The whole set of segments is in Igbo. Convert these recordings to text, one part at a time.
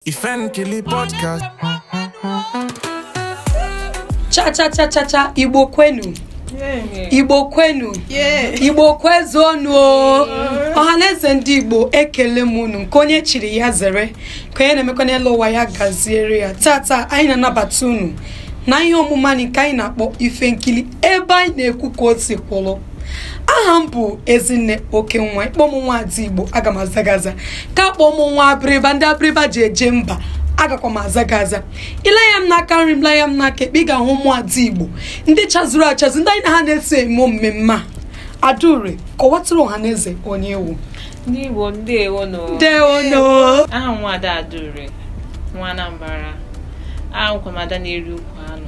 Ife Nkili Podcast. cha cha cha cha cha igbo kwenu igbo kwenu igbo kwezuonu o ọhaneze ndị igbo ekele m unu nke onye chiri ya zere nke onye na-emekwa n'elu ụwa ya gaziere ya taata anyị na-anabata unu na ihe omume anyị nke anyị na-akpọ ife nkili ebe anyị na-ekwu ka o si kwụrụ aha m bụ ezinne oke nwa ị kpọọ m nwa ada igbo aga m aza gị aza ka kpọọ m nwa abịrịba ndị abịrịba ji eje mba agakwa m aza gị aza i lee anya m n'aka nri m lee anya m n'aka ekpe ị ga-ahụ ụmụ ada igbo ndị chazuru achazu ndị anyị na ha na-eso eme mmemme a adaure kọwatụrụ ọha na eze onye ị wụ ndị igbo ndewo nụ ndewo nụ aha m nwa ada adaure nwa anambra awụkwa m ada na-eri ukwu anụ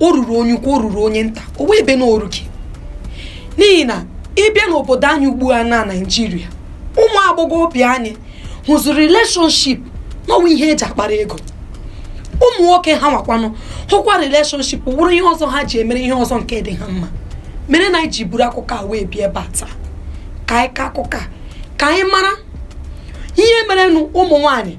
o ruru onye ukwu o ruru onye nta o nwee ebe na o rughị n'ihi na ị bịa n'obodo anyị ugbu a na naijiria ụmụ agbọghọbịa anyị hụziri relationship na ọ wụ ihe eji akpara ego ụmụ nwoke ha nwakwanụ hụkwa relationship wụrụ ihe ọzọ ha ji emere ihe ọzọ nke dị ha mma mere na anyị ji buru akụkọ a wee bịa ebe a taa ka anyị kaa akụkọ a ka anyị mara ihe merenụ ụmụ nwanyị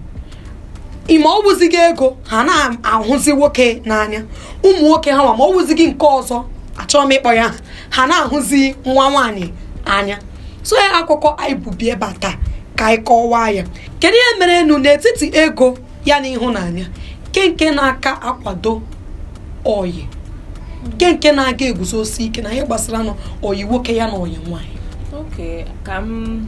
ma ọ wụzighị ego ha na-ahụzi nwoke n'anya ụmụ nwoke ha nwa ma ọ wụzighị nke ọzọ achọghị m ịkpọ ya aha ha na-ahụzi nwa nwaanyị n'anya so ya akụkọ anyị bu bịa ebe a taa ka anyị kọwaa ya kedu ihe merenụ n'etiti ego ya na ịhụnanya kee nke na-aka akwado ọyị kee nke na-aga eguzosi ike na ihe gbasara na ọyị nwoke ya na ọyị nwaanyị okay ka m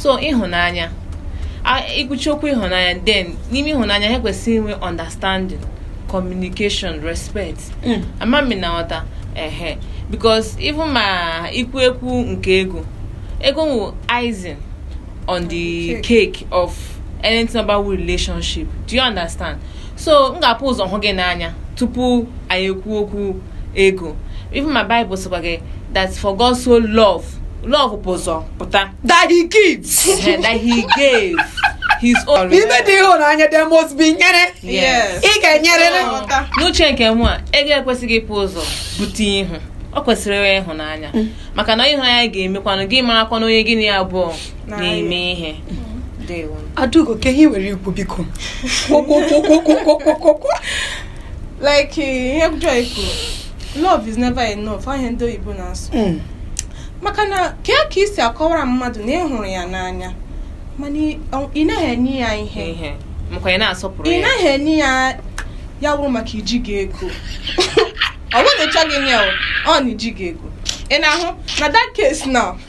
so ịhụnanya ikwuchi okwu ịhụnanya then n'ime ịhụnanya ha kwesịrị inwe understanding communication respect hmm. ama m ị na-aghọta ehe because even ma ikwu ekwu nke ego ego wụ icing on the cake of anything about relationship do you understand so m ga-ebu ụzọ hụ gị n'anya tupu anyị ekwu okwu ego even my bible sịkwa gị that for God so love love bu ụzọ pụta that he gives eh, that he gave his own n'ime the ịhụnanya there must be nyere Yes. ị ga-enyerịrị Nghọta. n'uche nke mụ a ego ekwesịghị ibu ụzọ bute ihu ọ kwesịrị inwe ịhụnanya maka na ịhụnanya ga-emekwanụ gị marakwanụ onye gị na ya abụọ na-eme ihe Ndewo. adaugo kee ihe i nwere ikwu biko kwuo like eh, ihe Joy kwuru love is never enough ihe a ndị oyibo na-asụ hmm. maka na kee ka i si akọwara mmadụ na ị hụrụ ya n'anya mana ị naghị enye ya ihe ị naghị enye ya ya wụrụ maka i jighị ego ọ bụghị na ị chọghị inye ọ na i jighị ego ị na-ahụ na that case now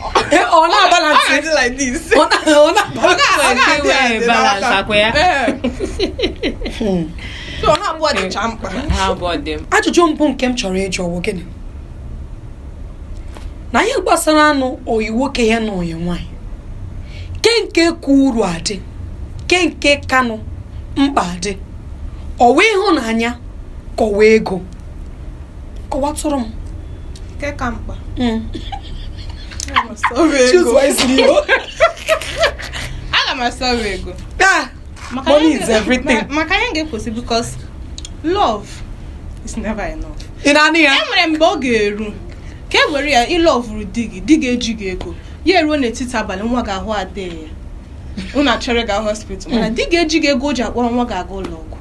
ọ na-abalance ọ na-adị like this ọ na- ọ na-abalance Ọ like ga-adị iwe adị balance n'aka. ọkwa ya. Ee. So, ọ na-abụ ọdịcha mkpa ha abụọ dị m ajụjụ mbụ nke m chọrọ ịjụ wụ gịnị na ihe gbasara anụ ọyị nwoke ya na ọyị nwanyị ke nke ka uru adị ke nke kanụ mkpa adị ọ wụ ịhụnanya ka ọ wụ ego kọwatụrụ m nke ka mkpa mm. aga m ahọrọ ego ah, money is everything maka ya ga-ekwesị because love is never enough ị na-anụ ya enwere mgbe ọ ga-eru ka e were ya ị lọvụrụ di gị di gị ejighị ego ya eruo n'etiti abalị nwa gị ahụ adịghị ya unu achọrọ ịga hospital mana mm. di gị ejighị ego o ji akpọrọ nwa gị aga ụlọ ọgwụ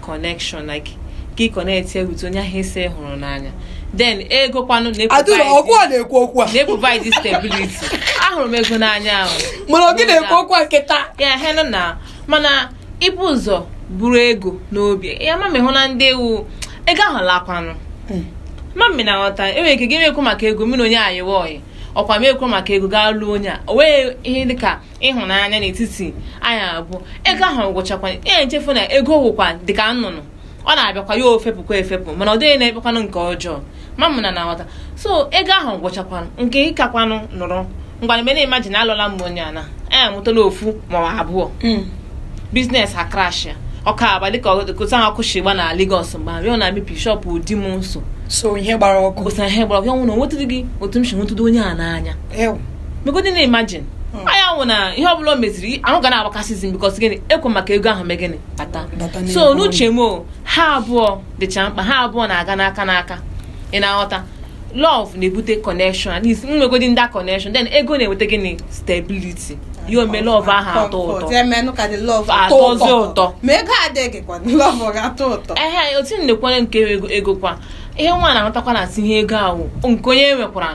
connection like ka ị connect ya with onye ahụ ị sị hụrụ n'anya then ego kwanụ adịrọ ọkụ a na-ekwu okwu a na-eprovide stability ahụrụ m ego n'anya ahụ mana ọ gị na-ekwu okwu a nkịta ya he nọ na mana i bu ụzọ buru ego n'obi ya ma mehụ na ndị ewu ego ahụ lakwanụ hmm. ma m ma ị na-aghọta enwere ike gị na-ekwo maka ego mmiri onye a yịwa ọyị ọkwa m ekwo maka ego gaa lụọ onye a o nweghị ihe dịka ịhụnanya n'etiti anyị abụọ ego ahụ gwụchakwa ya echefu na ego wụkwa dịka nnụnụ ọ na-abịakwa ya o fepụkwa efepụ mana ọ dịghị na-ekpekwanụ nke ọjọọ ma m ma ị na-aghọta so ego ahụ gwụchakwanụ nke ịkakwanụ nụrụ ngwa mgbe na-imagine na alụla m onye a anyị amụtala ofu ma abụọ hmm. business ha crash ya ọkụ agbaa dịka otu ahụ ọkụ shi gba na Lagos mgbe ahụ ya na maybe shọpụ di m nso so ihe gbara ọkụ ihe gbara ọkụ ya nwụ na o nwetụdịghị otu m si hụtụdị onye a n'anya megodi na-imagine Hmm. ya nwụ na ihe ọbụla o meziri ahụ ga na-agbakasịzi m because gịnị ekwo maka ego ahụ mee gịnị bata so n'uche m ha abụọ dịcha mkpa ha abụọ na-aga n'aka n'aka ị na-aghọta love na-ebute connection at least nwegodi that connection then ego na-eweta gịnị stability ya emee love ahụ atọ ụtọ atọzi ụtọ ehe otu m na-ekwere nke ego kwa ihe nwa na-aghọtakwa na asị ihe ego ahụ nke onye nwekwara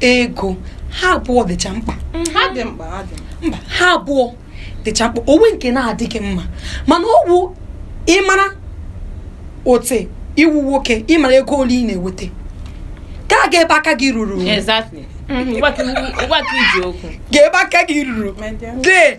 ego ha abụọ dịcha mkpa mhm. ha dị mkpa ha dị mkpa ha abụọ dịcha mkpa o nwe nke na-adịghị mma mana ọ bụ ị mara ote ị wụ nwoke ị mara ego ole ị na-eweta ka a gaa ebe aka gị ruru mhm. gaa ebe aka gị ruru dee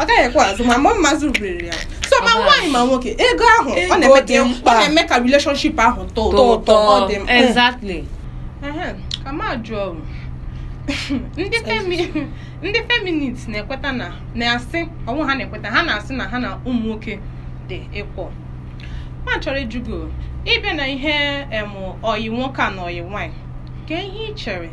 ọ gaghị ekwe azụ ma mgbe mma zụrụbiriri ya so ma nwaanyị ma nwoke ego ahụ ọ na-eme ka ọ na-eme ka relationship ahụ tọọ ụtọ ọ dị mkpa exactly ka m jụọ ndị feminist na-ekweta na na-asị ọ nwụ ha na-ekweta ha na-asị na ha na ụmụ nwoke dị equal m chọrọ ịjụ gị ị bịa na ihe ọyị nwoke a na ọyị nwaanyị ke ihe ị chere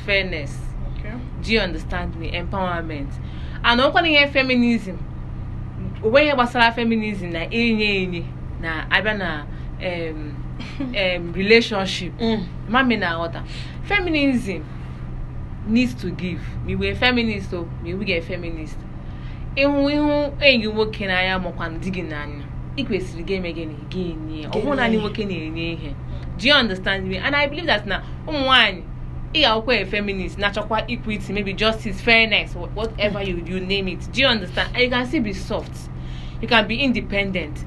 fairness Okay. do you understand me empowerment and ọkwa na ihe feminism onweghị ihe gbasara feminism na enye enye na a bịa na em, em, relationship Mm. ma m ị na-aghọta feminism needs to give ma ị wụ a feminist o ma ị wụghị a feminist ịhụ ịhụ enyi gị nwoke n'anya makwa di gị n'anya ị kwesịrị ga-eme gịnị ga-enye ọ bụghị naanị nwoke na-enye ihe do you understand me and i believe that na ụmụ nwaanyị ị ga-awụkwa a feminist na-achọkwa equity maybe justice fairness whatever you, you name it do you understand and you can still be soft you can be independent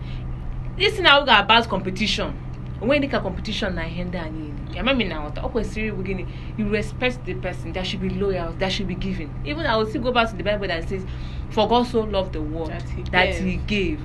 this thing awụghị about competition onweghị dịka competition na ihe ndị a niile ya ma m ị na-aghọta ọ kwesịrị ịbụ gịnị you respect the person there should be loyal there should be giving even i will still go back to the bible that says for god so loved the world that he, that he gave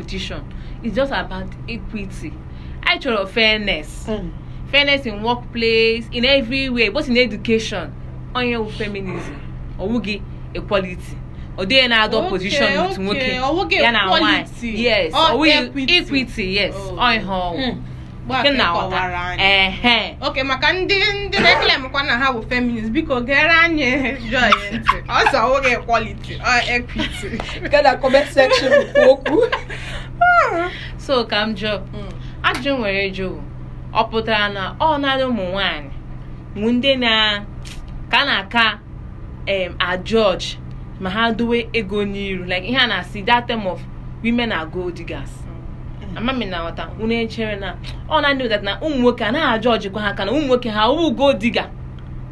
competition it's just about equity anyị chọrọ fairness mm. fairness in workplace in everywhere both in education ọ ya wụ feminism ọ wụghị equality ọ dịghị na-adọ position with nwoke ya na nwaanyị yes ọ wụ equity yes ọhụụ okay maka ndị ndị na-eclaimkwa na ha bụ feminist biko geere anyị Joy ntị ọ sị ọ wụghị equality ọ equity gada comment section kwuo okwu so ka m jụọ hmm. ajụ were jụọ ọ pụtara na ọ naanị ụmụ nwanyị bụ ndị a na-aka na-aka um ajudge ma ha dowe ego n'iru like ihe a na-asị that term of women are gold diggers ama m ị na-aghọta unu echere na ọ na ndị na ụmụ nwoke a naghị ajudgekwa ha ka na ụmụ nwoke ha wụ gold digger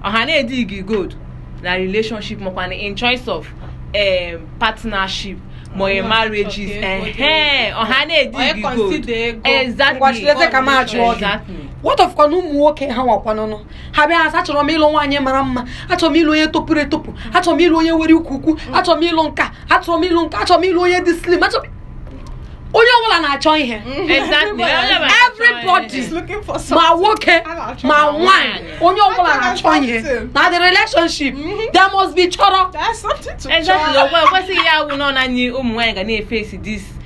ọ ha na-edig gold na relationship makwa na in choice of um, partnership ma onye marriages ehe ọ ha na-edig Onye consider gold ego. exactly Ngwa cherezie ka m jụọ gị. Exactly. what of kwana ụmụ nwoke ha nwakwanụnụ ha bịa asị achọrọ m ịlụ nwaanyị mara mma achọrọ m ịlụ onye topụrụ etopụ achọrọ m ịlụ onye nwere ukwu ukwu achọrọ m ịlụ nke a achọrọ m ịlụ nke a achọrọ m ịlụ onye dị slim achọrọ m- onye ọbụla na-achọ ihe Exactly. everybody She's looking for ma something. nwoke A na-achọ ma ma nwaanyị onye ọbụla A na-achọ na-achọ ihe something. na the relationship there must be chọrọ There's something to Exactly. try. Ọkwa ekwesịghị ya awụ na ọ naanị ụmụ nwaanyị ga na-eface this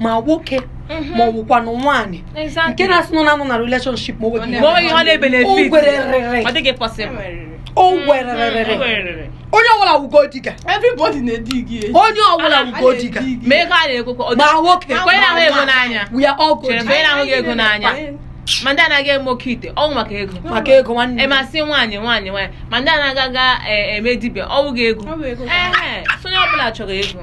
ma nwoke mhm. ma ọ wụkwanụ nwaanyị nke na-asị na ọ na-anọ na relationship ma o nwererere onye ọbụla wụ gold digger onye ọbụla wụ gold digger ma nwoke we are all gold ma ndị na-aga eme oke ite ọ wụ maka ego maka ego nwanne emasị nwaanyị nwaanyị nwaanyị ma ndị na-aga aga e, eme dibịa ọ wụghị ego so onye ọbụla chọrọ ego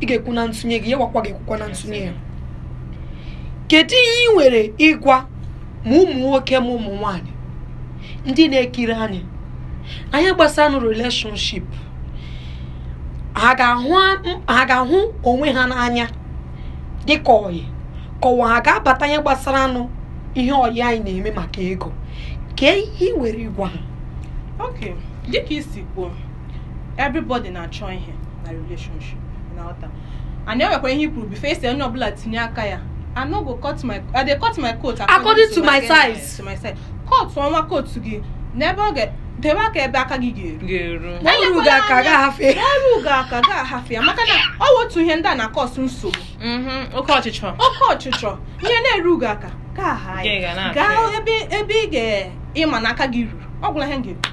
ị ga-ekwu na ntụnye gị ya nwakwa ga-ekwukwa na ntụnye ya kedu ihe ị nwere ịgwa ma ụmụ nwoke ma ụmụ nwanyị ndị na-ekiri anyị n'ihe gbasara relationship ha ga-ahụ onwe ha n'anya dịka ọyị ka ọ wụ ha ga-abata n'ihe gbasara nụ ihe ọyị anyị na-eme maka ego kee ihe ị nwere ịgwa ha dịka i si kwuo everybody na-achọ ihe na relationship na ọta and enwekwara ihe i kwuru before e si onye ọbụla tinye aka ya I no go cut my I dey cut my coat according to my size to my size cut ọnwa coat gị n'ebe ọ ga debe aka ebe aka gị ga-eru o rughị aka gị ahafụ ya o rughị aka gị ahafụ ya maka na ọ wụ otu ihe ndị na-acause nsogbu mm-hmm. oke ọchịchọ oke ọchịchọ ihe na-erughị aka gị aha ya gaa ebe ị ga-ịma na aka gị ruru ọ gwụla ihe m ga-ekwu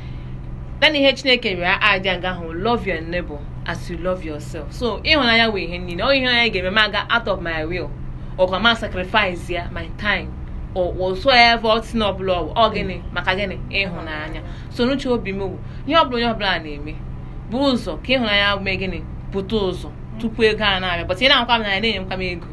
naanị ihe chineke rịọ adị aga ahụ love your neighbor as you love yourself so ịhụnanya wụ ihe niile ọ ịhụnanya ga-eme m aga out of my way ọkwa ma sacrifice ya my time whatsoever thing ọbụla ọ gịnị maka gịnị ịhụnanya so n'uche obi m ihe ọbụla onye ọbụla na-eme buru ụzọ ka ịhụnanya mee gịnị pụta ụzọ tupu ego a na-abịa but ị na-agwa m na ya na-enye m ego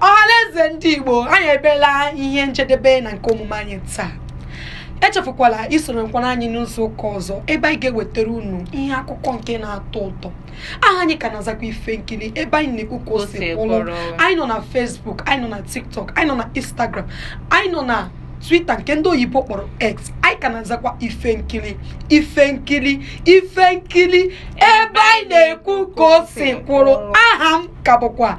ọhaneze ndị igbo anyị abịala ihe njedebe na nke omume anyị taa echefukwala isorokwara anyị n'izu ụka ọzọ ebe anyị ga-ewetara unu ihe akụkọ nke na-atọ ụtọ aha anyị ka na-azakwa ife nkiri ebe anyị na-ekwu ka o si kwụrụ anyị nọ na Facebook anyị nọ na TikTok anyị nọ na Instagram anyị nọ na Twitter nke ndị oyibo kpọrọ X anyị ka na-azakwa ife nkiri ife nkiri ife nkiri ebe anyị na-ekwu ka o si kwụrụ aha m ka bụkwa